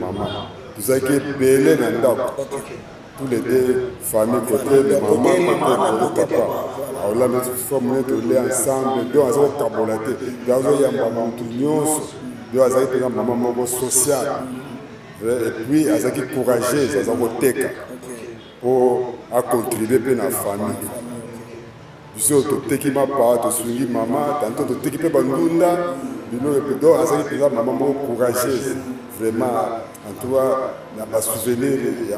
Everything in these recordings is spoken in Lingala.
mama tozalaki ebele na ndako tous les deux famille côté de maman côté de papa aola na fois mone tole ensemble do aza kokabola te do azoyamba motu nyonso do azali mpenza mama moko sociale epuis azalaki courageuse aza koteka mpo acontribue mpe na famille Biso toteki mapa, tosungi mama, tanto toteki pe ba ndunda, biloko epe donc azali penza mama moko courageuse vraiment en tout cas na ba souvenir ya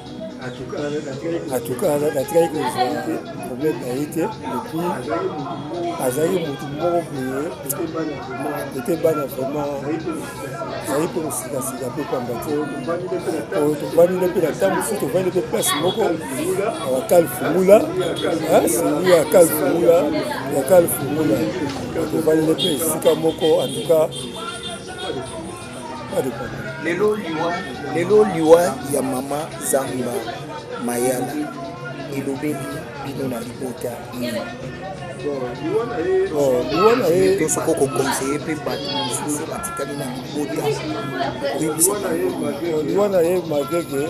atukaka kaka atikaki kozwa te problème na ye te epuis azalaki motu moko boye kote bana vraiment azali mpe kosikasika mpe pamba te oyo tofandi nde mpe na ntango mosusu tofandi mpe place moko yakal fungula seli yakal fungula yakal fungula tofandi nde mpe esika moko antuka lelo liwa lelo liwa ya mama zamba mayala elobeli bino na libota liwa na ye tosoko kokonseye mpe bato mosusu batikali na libota liwa na ye makeke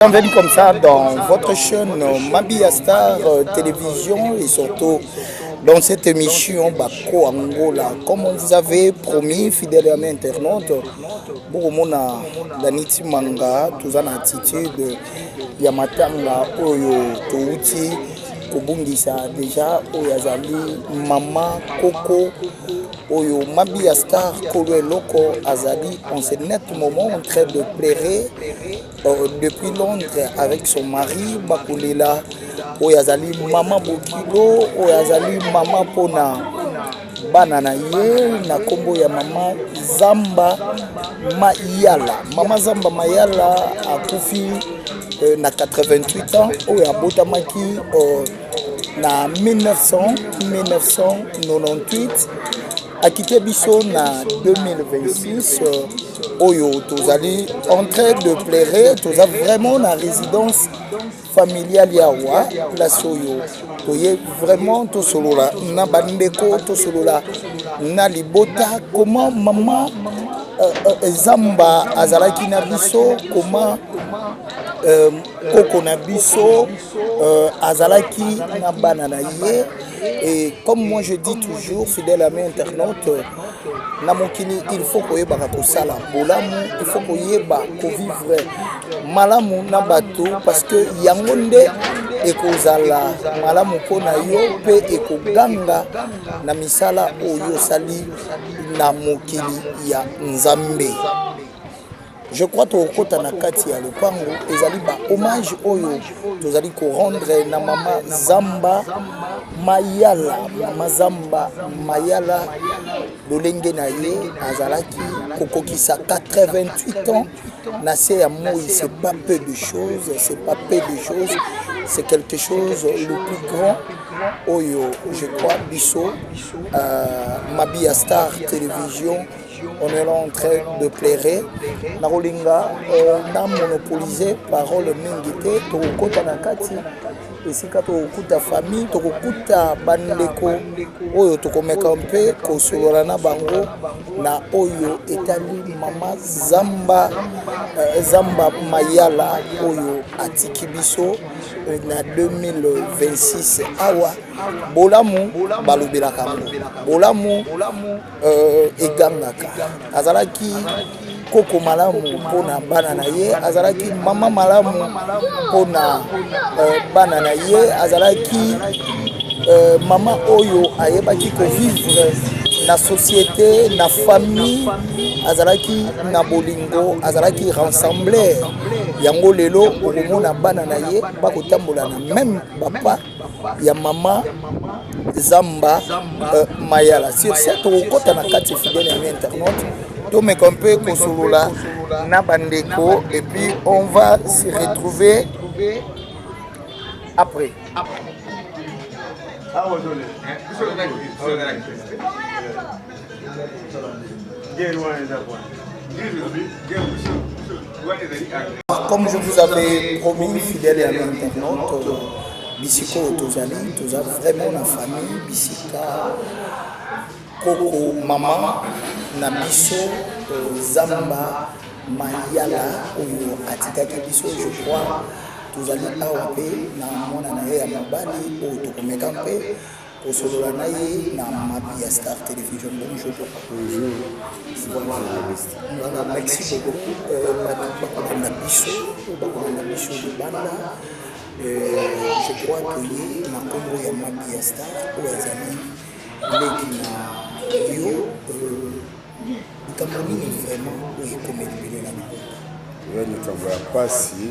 Bienvenue comme ça dans votre chaîne euh, Mabia Star euh, Télévision et surtout dans cette émission Bako Angola. Comme on vous avait promis, fidèle à internaute, Bouromona Daniti Manga, tous en attitude, Yamatanga Oyo Touti, Kobundisa déjà, Oyazali, Mama Koko. Oyo mabi ya star kolo eloko azali en ce net moment en train de pleurer euh, depuis Londres avec son mari bakolela oyo azali mama bokilo oyo azali mama mpona bana na ye na nkombo ya mama zamba mayala mama zamba mayala akufi euh, na 88 ans oyo abotamaki euh, na 1998 akite biso na 2026 euh, oyo tozali en train de plaire toza vraiment na résidence familiale ya wa place oyo toye vraiment tosolola na bandeko tosolola na libota comment mama euh, euh, zamba azalaki na biso comment koko na biso Euh, azalaki na bana na ye et comme moi je dis toujours fidèle ami internaute na mokili il faut koyebaka kosala bolamu il faut koyeba kovivre malamu na bato parce que yango nde ekozala malamu mpo na yo mpe ekoganga na misala oyo osali na mokili ya nzambe Je crois tokokota na kati ya lopango ezali ba hommage oyo tozali ko rendre na mama Zamba Mayala, mama Zamba Mayala lolenge na ye azalaki kokokisa 88 ans na se ya moi, c'est pas peu de choses, c'est pas peu de choses, c'est quelque chose le plus grand oyo je crois biso euh, Mabia Star Télévision On est en train de pleurer. Nakolinga euh, na monopoliser parole mingi te tokokota na kati esika tokokuta famille tokokuta bandeko oyo tokomeka mpe kosolola na bango na oyo etali mama zamba euh, zamba mayala oyo atiki biso euh, na 2026 awa bolamu balobelaka yango bolamu euh, egangaka azalaki koko malamu mpo na bana na ye azalaki mama malamu mpo na euh, bana na ye azalaki euh, mama oyo ayebaki kovivre na société na famille azalaki na bolingo azalaki rassembler yango lelo okomona bana na ye bakotambola na meme bapa ya mama zamba euh, mayala sur ce tokokɔta na kati fidèle yango internaute tomeka mpe kosolola na bandeko et puis on va se retrouver après ah, Comme je vous avais promis, fidèle et ami internaute, bisika oyo tozali toza vraiment na famille bisika koko mama na biso euh, zamba mayala oyo atikaki biso je crois tozali awa mpe na mwana na ye ya mobali oyo tokomeka mpe Kosolola na ye na mapi ya Star Television. Bonjour papa. Bonjour. Bonjour journaliste. Voilà, merci beaucoup. Euh, bakolanda biso, bakolanda biso libanda. Euh, je crois que ye na kombo ya mapi ya Star oyo azali leki na yo euh, Likambo nini vraiment oyo ekomeli bino na libota? Eza likambo ya mpasi,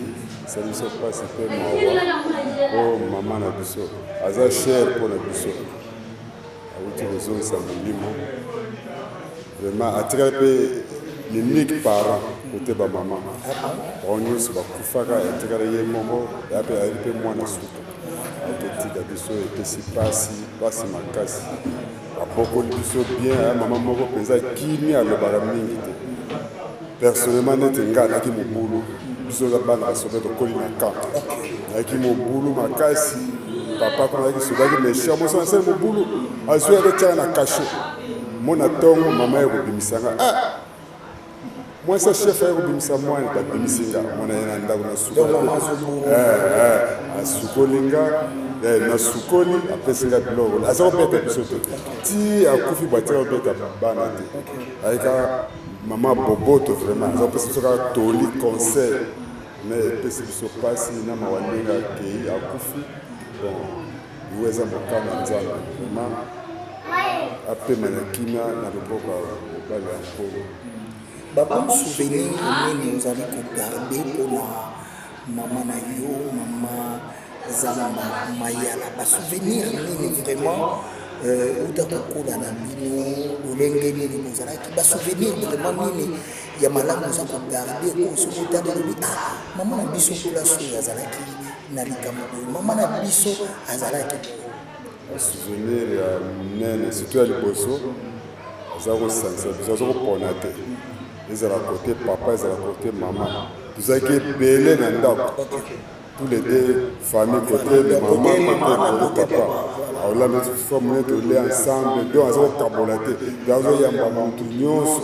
eza biso mpasi mpe mawa mpo mama na biso aza cher mpo na biso, awuti kozongisa molimo vraiment, atikali mpe l'unique parent kote bamama bango nyonso bakufaka, atikali ye moko ya mpe ayeli mpe mwana suka, akotika biso epesi mpasi mpasi makasi. Abokoli biso bien hein, maman moko penza kimia alobaka mingi te. Personnellement neti nga naki mobulu biso za bana basoda tokoli na camp. Naki mobulu makasi papa kuna naki soda ki méchant moso na sel mobulu azwi akotyaka na cachet. Mona tongo mama ye kobimisa nga ah mwasi ya chef aye kobimisa mwana babimisi nga mwana ye na ndako nasukoli asukoli nga nasukoli apesi nga biloko aza kobeta biso te ti akufi batika kobeta bana te ayika mama boboto vraiment aza kopesa biso kaka toli conseil mais epesi biso mpasi na mawa ndenge akei akufi bon Yango eza mokano ya Nzambe vraiment apema na kimia na loboko ya mobali ya nkolo. Babon souvenir nini ozali kogarde mpo na mama na yo mama zamba mayala basouvenir nini vraiment euh, uta kokola na bino lolenge nini bozalaki basouvenir vraiment nini ya malamu oza kogarde oyo soki otali olobi ah mama na biso place oyo azalaki na likambo boye mama na biso azalaki souvenir ya minene surtout ya liboso aza kosangisa biso aza kopona te ezala kote papa ezala kote mama tozalaki ebele na ndako tous les deux famille kote mama kote papa aolanda sofa mone tole ensemble do aza kokabola te do azoyamba motu nyonso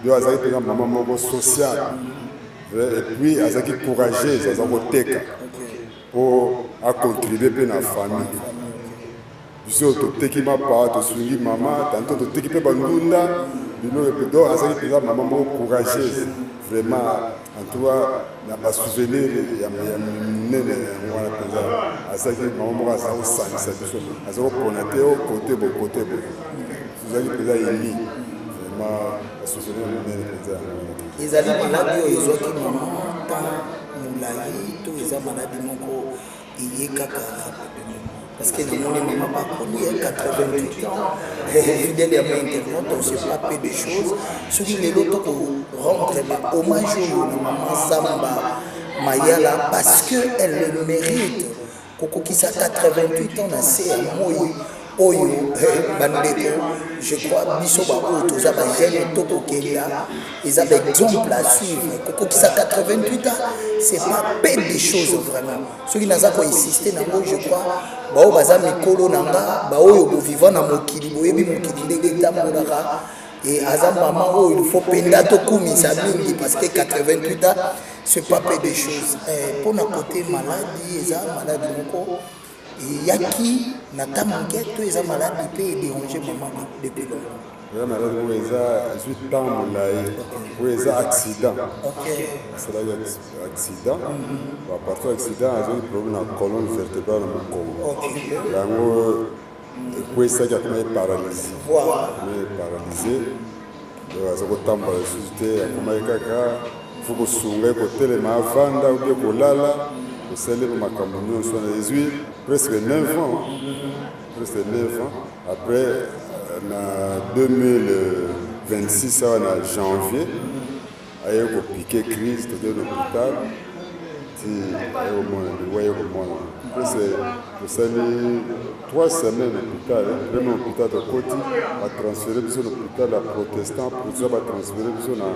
do azalaki mpenza mama moko sociale Euh, et puis azalaki courageuse aza koteka mpo acontribue mpe na famille biso toteki mapa tosungi mama tanto toteki mpe bandunda biloko epe donc azalaki mpenza mama moko courageuse vraiment antoua na basouvenir ya monene yango wana mpenza azalaki mama moko aza kosangisa biso aza kopona te o kote bokote boye tozalaki mpenza emi vraiment ezali maladi oyo ezwaki mama ntan molai to eza maladi moko eye kaka parceke namoni mama bakoli ya 88 ans fidèle ya ma internet on se pas peu de choses soki lelo toko rendre ba hommage oyo na mama zamba mayala parce que elle le mérite Kokokisa 88 ans na se ya moi oyo eh, bandeko je crois biso baoyo toza bajeune tokokenda eza baexemple à suivre kokokisa 88 ans c'est pas pe des choses vraiment soki naza koinsiste nango je crois baoyo baza mikolo na nga baoyo boviva na mokili boyebi mokili ndenge etambolaka e aza mama oyo ilfo mpenza tokumisa mingi parce que 88 ans ce pas peu de choses eh, mpo na kote maladi eza maladi moko eyaki na ta moke to eza maladi mpe ederange mama depuis longtemps eza maladi oyo eza ezwi temps molai oyo eza accident asalaki accident apartir accident azwaki problème na colonne vertébrale na mokongo yango ekweisaki akoma ye paralyse ye paralyse donc aza kotambola lisusu te akomaki kaka fo kosunga ye kotelema avanda oke kolala osali mpe makambo nyonso wana ezwi presque 9 ans presque 9 ans après na 2026 awa na janvier aye ko pique crise toke l'hôpital ti aye komona liwa aye komona mpese tosali 3 semaine hôpital vraimen hôpital tokoti batransfere biso na hôpital ya protestant protestant batransfere biso na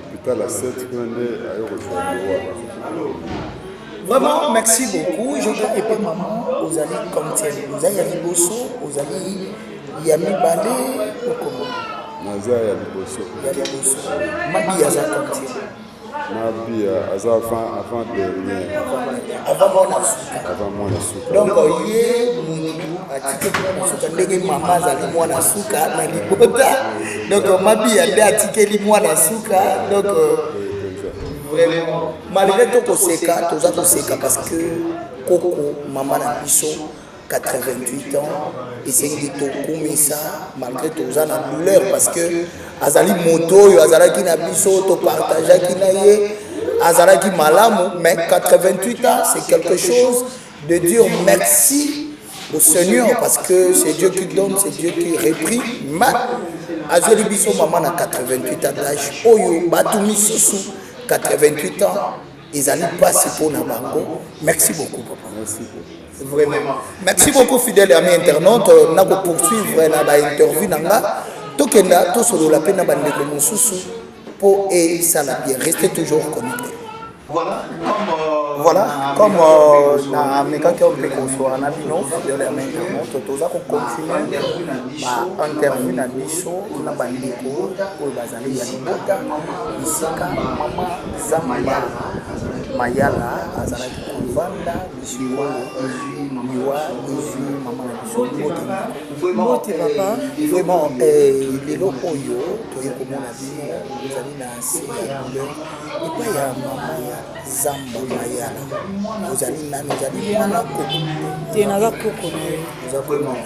hôpital ya 7 kuna nde aye kozwa liwa Vraiment, merci beaucoup. Je veux épater maman aux amis comme tiens. Vous avez dit Bosso, aux amis ya mibale okomo naza ya liboso ya liboso mabi aza combien mabi aza avant avant dernier avant mwana suka avant mwana suka donc ye mutu atikeli mwana suka ndenge mama azali mwana suka na libota donc mabi ya nde atikeli mwana suka donc vraiment malgré tokoseka toza koseka parce que koko mama na biso 88 ans esengeli tokumisa malgré toza na douleur parce que azali moto oyo azalaki na biso topartageaki na ye azalaki malamu mais 88 ans c'est quelque chose de dire merci au seigneur parce que c'est dieu qui donne c'est dieu qui reprit mais azweli biso mama na 88 ans d'age oyo bato misusu 88 ans Ezali pasi mpo na bango. Merci beaucoup papa. Merci beaucoup. Vraiment. Merci beaucoup fidèle ami internaute na ko poursuivre na ba interview na nga tokenda tosolola mpe na bandeko mosusu mpo esala bien. Restez toujours connecté. Voilà, comme euh, voilà, comme euh, na mekaki mpe kozwa na bino fidèle ami internaute toza ko continuer ba interview na biso na bandeko oyo baza Lisibota, Lisika, Mama Zambala, Mayala azalaki kovanda Lisibolo, Liwa, Lizwi, Mama na biso, Motema. Mbote papa, Vraiment, eh, lelo oyo toye komona bino ozali na nse ya couleur epai ya mama ya zamba mayala ozali nani ozali mwana koko te naza koko na ye oza komona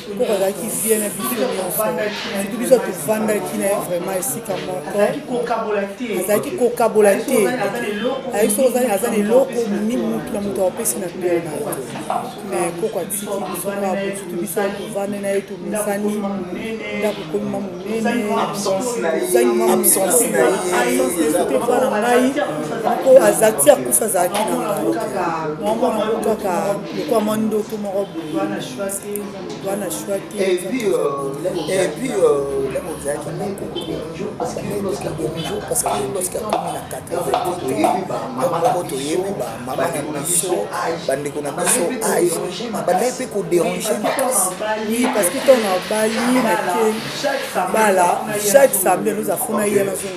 Koko azalaki vie na biso nyonso soki biso tofandaki na ye vraiment esika moko azalaki kokabola te ayaki soki ozali aza na eloko ni motu na moto apesi na pere na ye mais koko atiki biso abututu biso tovande na ye tomesani ndako komima monene mpo na ngai mpo azati akufa azalaki na ngai mwa mwana moko kaka lokwa mwa ndoto moko boye wana shwaki epuis lemo ozalaki nakokomijo parce que lorsque akomi na 80 toyebi bamama na biso bandeko na biso age abandaki mpe koderange makasi parce que ntango nabali nake bala chaque samedi nozafuna ye nazonga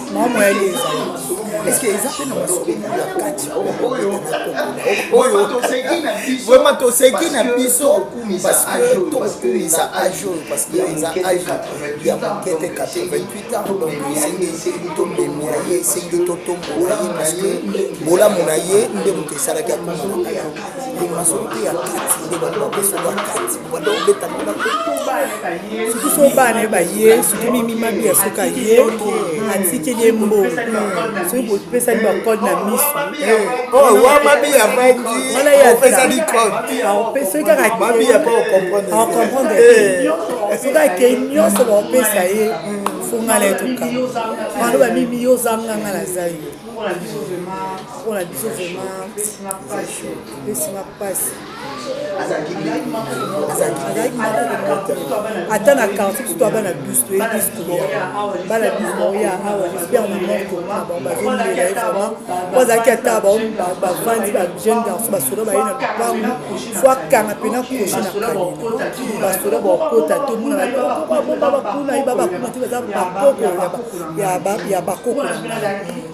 Maman Moyali ezali. Est-ce que eza pe na masoko ya kati? Oyo toseki na biso. Vraiment toseki na biso parce que tokumisa âge oyo parce que eza âge ya mokete 88 ans donc esengi tobemela ye esengi totombola ye parce que bolamu na ye nde moto esalaki akomana masoko ya kati nde bato bapesoka kati wanda obeta ngo na suki so bana ye baye suki mimi mabi ya soki aye atikeli ye mbo soki bopesani bacode na miso soki kaka comprendre soki akei nyonso baopesa ye fongala ye toka bano bamimi yo ozanganga naza yo mpona biso vraimen esinga mpasi ata na quartier biso toa bana bus toyebi biskoya bana bus baoya awa j'espère na moko bazolela ye vraiment po azalaki ata bavandi ba jeune garçon basoda baye na lopangu fo akanga mpena kroche na kani basoda bakota te omona babakuna ye babakuna te baza bakoko ya bakoko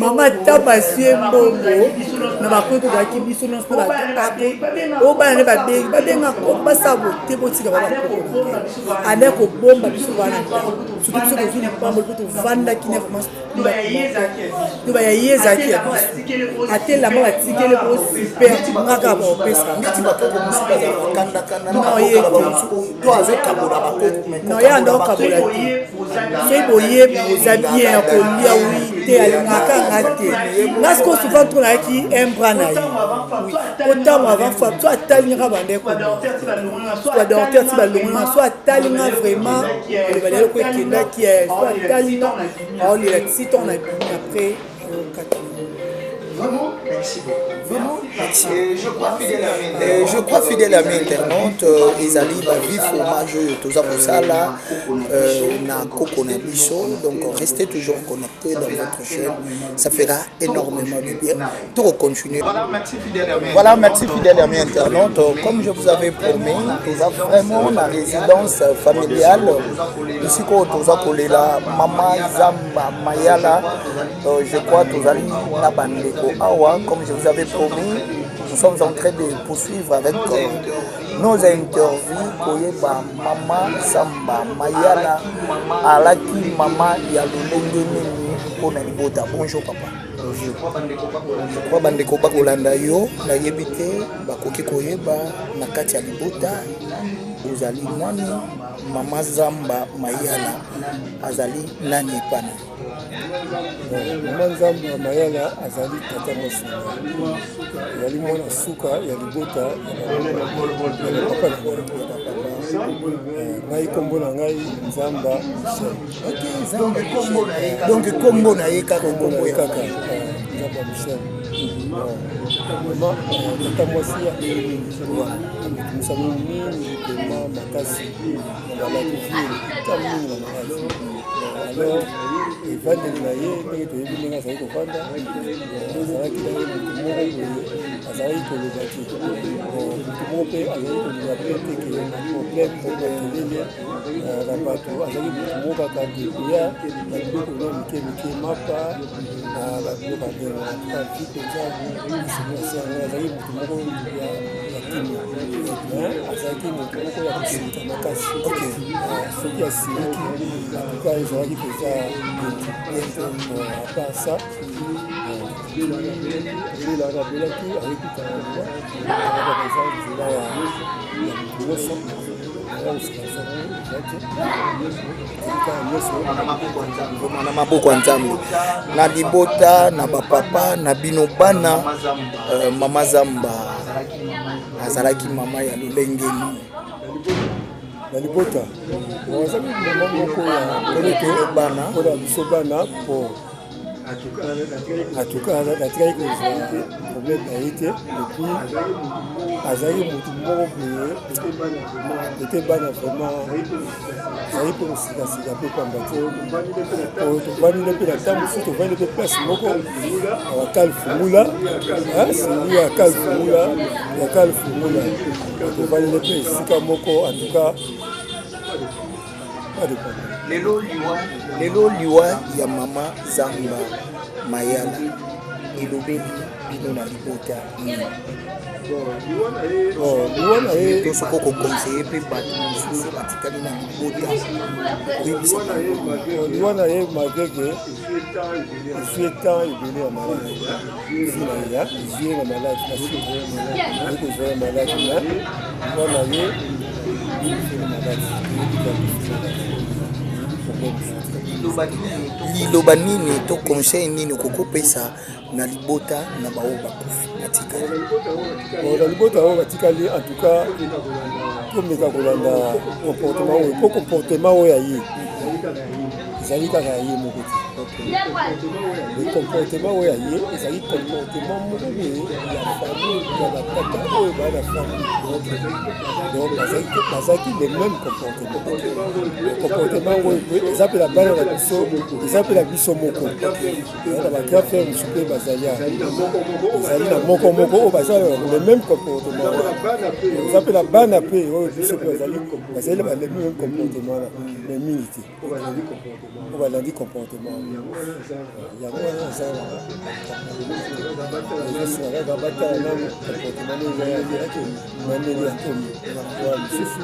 mama tabasie mbongo na bakoyo tozalaki biso nyonso na bato obana nde babengi babenga basabo te botika babakoo ale kobomba biso wana soki biso tozwi lipamboli mpo tovandaki na loba ya ye ezalaki ya biso atelama batikele po super ngaka baopesa noye anda okabola te soki boyebi oza bien ya kolia wi te alingaka nga te nga siko souvent to nayaki embra na ye otango avant fa so atali ngaka bandeko badorter ti balongolanga so atali nga vraiment koloba na eloko ekendaki so atali aolela ti ntango na bimi après okati Vraiment, merci beaucoup. Vraiment, merci. Et je crois fidèle à mes Et je crois fidèle à mes internautes euh, ezali ba vie fromage oyo toza kosala euh, na koko na biso donc restez toujours connecté dans votre chaîne ça fera énormément de bien Tout continuer. Voilà, merci fidèle ami. Voilà, merci fidèle ami internaute. Comme je vous avais promis, toza vraiment na résidence familiale. Ici ko toza kolela mama Zamba Mayala. Euh, je crois tozali na bandeko awa comme je vous avais promis. Nous sommes en train de poursuivre avec euh, nos interviews koyeba mama Zamba Mayala alaki mama ya lolenge nini mpona libota. Bonjour papa. Je crois bandeko bakolanda yo nayebi te bakoki koyeba na kati ya libota ozali nani mama zamba mayala azali nani epana mama zamba mayala azali tata mosala ezali mwana suka ya libota ya papa na ngai ngai nkombo na ngai nzamba michel donc kombo na ye donc kombo na ye kaka kombo ya kaka nzambe ya michel tata mwasi ya mosano mingi pema makasi balaki vile ta mingi na makasi alors evandeli na ye ndenge toyebi ndenge azali kofanda azalaki na ye motu moko boye azalaki koloba te motu moko mpe azali koloba mpe te ke na problème mpo na kelele na bato azali moto moko kaka dekoya na biloko mwa mike mike mapa na babiloko abenga vi mpenza mosumosi yango azali moto moko ya kimia azalaki moto moko ya kosilika makasi soki asiliki atuka ezalaki mpenza apasa lela babelaki ayekutana nzela ya moto nyonso na maboko ya nzambe na libota na bapapa na bino bana euh, mama zamba azalaki mama ya lolenge nini na libota azali mama moko ya bana biso bana po atukaka kaka atikaki kozwa te problème na ye te epuis azalaki motu moko boye ete bana vraiment azali mpe kosikasika mpe pamba te oyo tofandi nde mpe na ntango mosusu tofandi mpe place moko akal fungula seli ya akal fungula ya akal fungula tofandi nde mpe esika moko antuka lelo liwa lelo liwa ya mama zamba mayala elobeli bino na libota liwa na ye to soki okokonseye mpe bato mosusu batikali na libota oyebisa liwa na ye malgreke esui etemp ebele ya malai Zinanga, zinga malaki na siko, niko zoya malaki na, mpona ye, niko malaki, niko malaki. liloba nini to conseil nini okoki kopesa na libota na baoyo bakufi batikali na libota oyo batikali en tout cas tomeka kolanda comportement oyo po comportement oyo aye ezali kaka ya ye moko te le comportement oyo ya ye ezali comportement moko boye ya famille ya batata oyo baa na famille donc bazalaki le même comportement comportement yango eza mpe na bana na biso eza mpe na biso moko na bagrand frère mosusu mpe bazali ezali na moko moko oyo baza le même comportement eza mpe na bana mpe oyo biso mpe bazali bazali le même comportement wana mais mingi te oyo balandi comportement yango wana ezalaka ezosalaka batala nanu comportement nde ezalaki yaki bandeli ya komi wa lisusu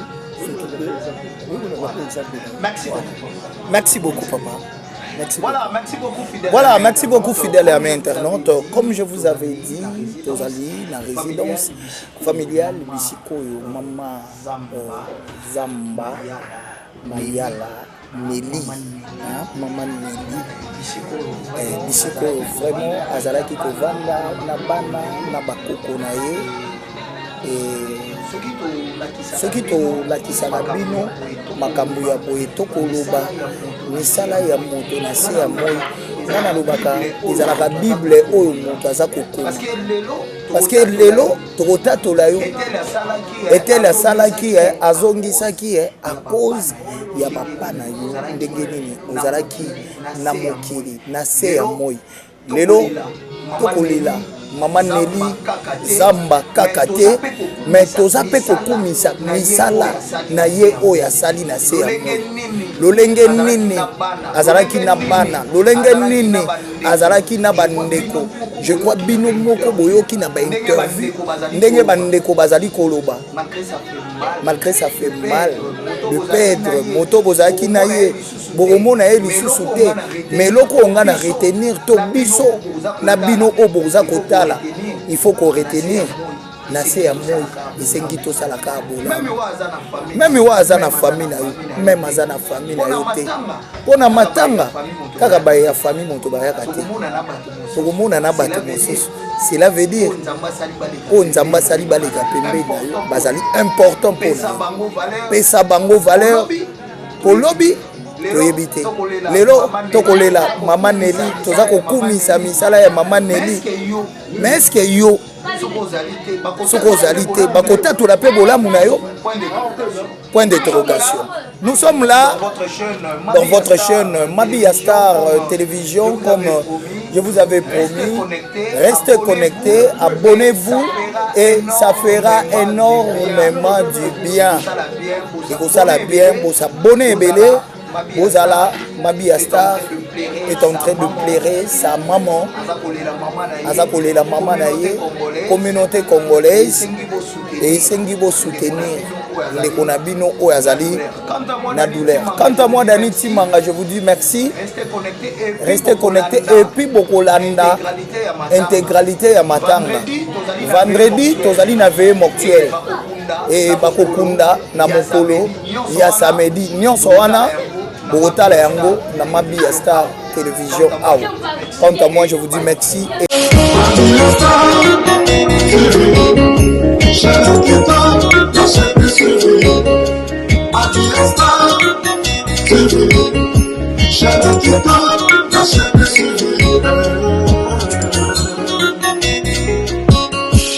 Merci beaucoup, papa. Merci voilà, beaucoup. merci beaucoup, fidèle. Voilà, merci beaucoup, fidèle à mes internautes. Comme je vous avais dit, Tozali, la résidence familiale, Bissikoyo, Mama euh, Zamba. Mayala Nelly hein maman Nelly eh, bisiko vraiment azalaki kovanda na bana na bakoko na ye eh, soki tolakisaka bino makambo ya boye tokoloba misala ya moto na se ya moi nga nalobaka ezalaka bible oyo moto aza kokoma parce que lelo tokotatola yo etele asalaki eh, azongisaki eh, a cause ya papa na yo ndenge nini ozalaki na mokili na se ya moi lelo tokolela mama neli zamba kaka te me toza mpe kokumisa misala na ye oyo asali na se ya moi lolenge nini azalaki na bana lolenge nini azalaki na bandeko je crois bino moko boyoki na bainterview ndenge bandeko bazali koloba malgré ça fait mal de perdre moto bozalaki na ye bokomona ye lisusu te mais eloko oyo ngai na retenir to biso na bino oyo boza kotala il faut koretenir na se ya moi esengi tosala kaka bolamu meme oyo aza na famille na yo meme aza na famille na yo te mpo na matanga kaka baye ya famille moto bayaka te tokomona na bato mosusu cela veut dire oyo nzambe asali baleka pembeni na yo bazali important mpo na pesa bango valeur mpo lobi toyebi te lelo tokolela mama neli toza kokumisa misala ya mama neli mais eske yo soki ozali te bakotatola mpe bolamu na yo point d'interrogation nous sommes là dans votre chaîne mabia star euh, télévision comme euh, je vous avais promis restez connectés abonnez-vous et ça fera énormément du bien ekosala bien bosabone ebele Bozala Mabia Star est en train de pleurer sa maman. Aza kolela maman na ye. Communauté congolaise et esengi bo soutenir ndeko na bino oyo azali na douleur. Quant à moi Dani Timanga, je vous dis merci. Restez connectés et puis bokolanda intégralité ya matanga. Vendredi tozali na veille mortuelle et bakokunda na mokolo ya samedi nyonso wana bokotala yango na mabi ya star télévision awa quant à moi je vous dis merci et...